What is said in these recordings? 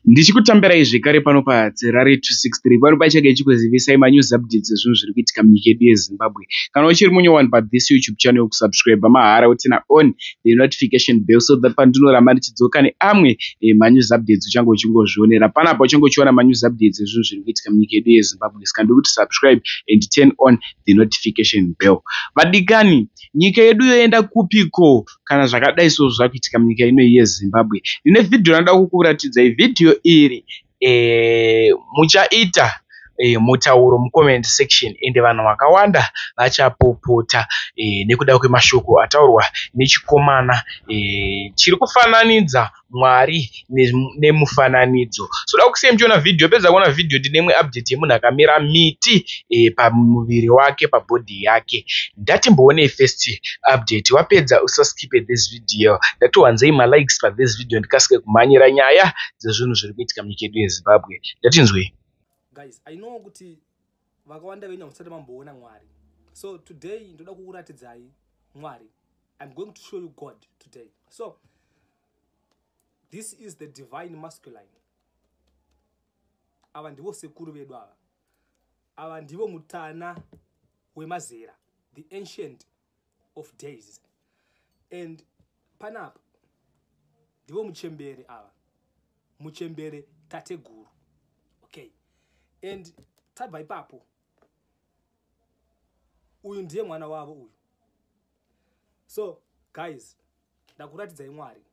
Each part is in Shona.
ndichikutambirai zvekare pano padzerare 263 pano paichage ichikuzivisai manews updates ezvinhu zviri kuitika munyika yedu yezimbabwe kana uchiri munyowani pathis youtube channel yokusubscribe mahara utina on the notification bell so that pandinoramba ndichidzoka neamwe eh, manews updates uchange uchingozvionera panapa uchange uchiona manews updates ezvinhu zviri kuitika munyika yedu yezimbabwe ska ndiri kuti subscribe and turn on the notification bell vadikani nyika yedu yoenda kupiko kana zvakadai so zvakuitika munyika ino yezimbabwe ndine vhidhiyo ranoda kukuratidzai vhidhiyo iri e, muchaita e, mutauro mucomment section ende vanhu vakawanda vachapopota e, nekuda kwemashoko ataurwa nechikomana e, chiri kufananidza Mwari nemufananidzo. So da kusiyai muchiona video pedza kuona video ndine imwe update yemunhu akamera miti eh, pamuviri wake pabody yake. Ndatimboonei first update wapedza usaskipe this video. Ndatiwanzei malikes pa this video ndikasike kumhanyira nyaya dzezvinhu zviri kuitika munyika yedu yeZimbabwe. Ndatinzwei. Guys, I know kuti vakawanda venyu hamusati mamboona mwari so today ndoda kukuratidzai mwari i'm going to show you god today so this is the divine masculine ava ndivo sekuru vedu ava ava ndivo mutana wemazera the ancient of days and panapa ndivo muchembere ava muchembere tateguru okay and tabva ipapo uyu ndiye mwana wavo uyu so guys ndakuratidzai mwari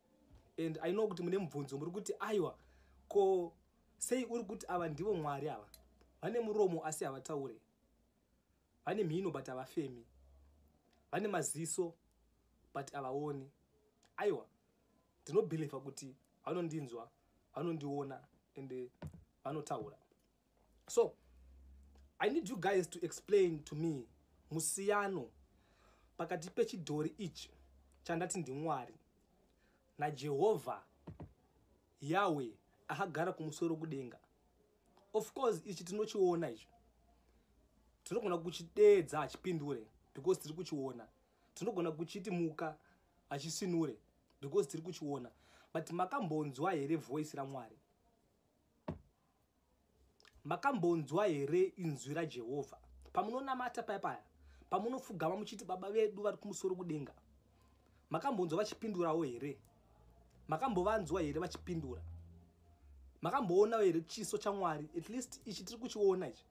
and i know kuti mune mubvunzo muri kuti aiwa ko sei uri kuti ava ndivo mwari ava vane muromo asi havataure vane mhino but havafemi vane maziso but havaoni aiwa ndinobhilivha kuti vanondinzwa vanondiona and vanotaura so i need you guys to explain to me musiyano pakati pechidhori ichi chandati ndimwari najehovha yawe akagara kumusoro kudenga of course ichi tinochiona ichi tinogona kuchideedza hachipindure because tiri kuchiona tinogona kuchiti muka hachisinure because tiri kuchiona but makambonzwa here voice ramwari makambonzwa here inzwi rajehovha pamunonamata paya paya pamunofugama muchiti baba vedu vari kumusoro kudenga makambonzwa vachipindurawo here makambovanzwa here vachipindura makamboonawo here chiso chamwari at least ichi tiri kuchiona ichi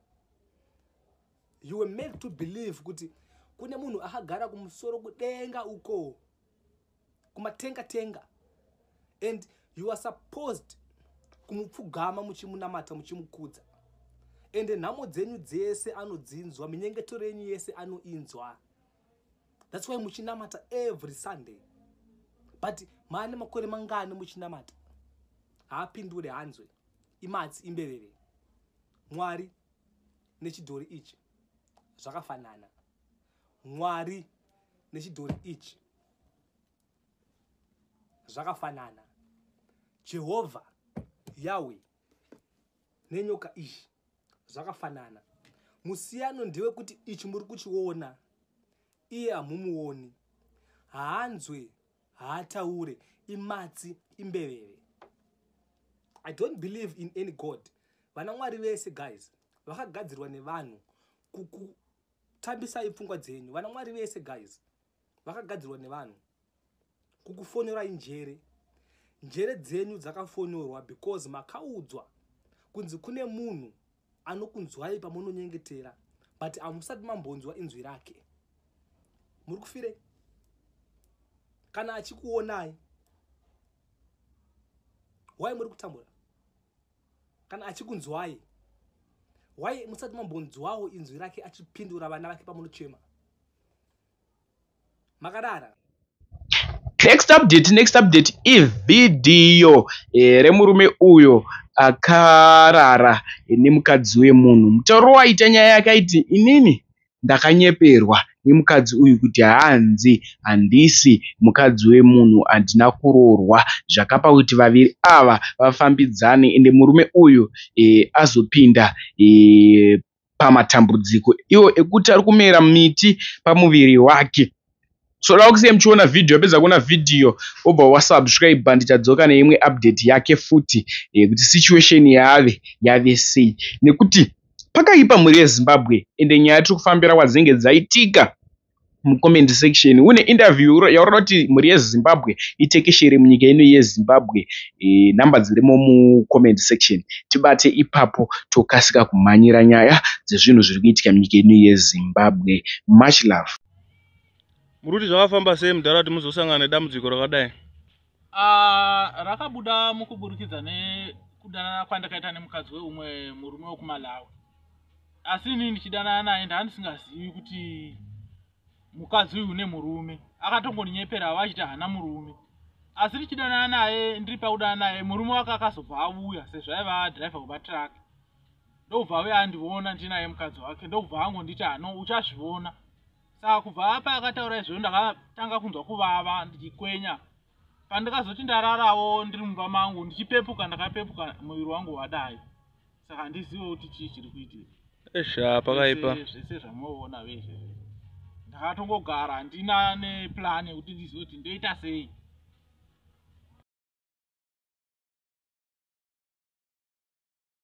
you were made to believe kuti kune munhu akagara kumusoro kudenga uko kumatenga tenga and you are supposed kumupfugama muchimunamata muchimukudza ende nhamo dzenyu dzese anodzinzwa minyengetero yenyu yese anoinzwa That's why muchinamata every Sunday. But maane makore mangani muchinamata. Haapindure hanzwe. Imatsi imbeveve. Mwari nechidhori ichi zvakafanana. Mwari nechidhori ichi zvakafanana. Jehovha Yahweh nenyoka ichi zvakafanana musiyano ndewe kuti ichi muri kuchiona iye hamumuoni haanzwe haataure imatsi imbeveve i don't believe in any god vana mwari vese guys vakagadzirwa nevanhu kutambisai pfungwa dzenyu vana mwari vese guys vakagadzirwa nevanhu kukufonorai njere njere dzenyu dzakafonorwa because makaudzwa kunzi kune munhu anokunzwai pamunonyengetera but hamusati mambonzwa inzwi rake muri kufirei kana achikuonai why muri kutambura kana achikunzwai why musati mambonzwawo inzwi rake achipindura vana vake pamunochema makadara next update next update ivhidhiyo eh, remurume uyo akarara nemukadzi wemunhu mutauro waita nyaya yake aiti inini ndakanyeperwa nemukadzi uyu kuti hanzi handisi mukadzi wemunhu handina kuroorwa zvakapa kuti vaviri ava vafambidzane ende murume uyu e, azopinda e, pamatambudziko iwo ekuti ari kumera miti pamuviri wake so toda kusiya muchiona vhidhiyo apedza kuona vhidhiyo obva wasubscribe ndichadzoka neimwe update yake futi yekuti eh, situation yave yave sei nekuti pakaipa mhuri yezimbabwe ende nyaya tiri kufambira kwadzinenge dzaitika mucomment section une interview yauri kuti mhuri yezimbabwe itekeshere munyika ino yezimbabwe e, number dzirimo mucomment section tibate ipapo tokasika kumhanyira nyaya dzezvinhu zviri kuitika munyika ino yezimbabwe much love muri kuti zvakafamba sei mudhara kuti muzosangana nedambudziko rakadai Ah, rakabuda mukuburikidza nekudanana kwandakaita nemukadzi weumwe murume wekumalawi asi inini ndichidanana naye ndaa ndisingazivi kuti mukadzi uyu une murume akatongoninyeperawo achiti haana murume asi ndichidanana naye ndiri pakudana naye murume wake akazobva auya sezvo aiva driver wematruck ndokubva auya andivona ndinaye mukadzi wake ndokubva angonditi ano uchazvivona saka kubva apa akataura izvozvo ndakatanga kunzwa kuvava ndichikwenya pandikazoti ndararawo ndiri mumba mangu ndichipepuka ndakapepuka muviri wangu wadai saka handizive kuti chii chiri kuitika esha pakaipa zvese zvamuoona vezve ndakatongogara handina neplan yekuti ndizive kuti ndoita sei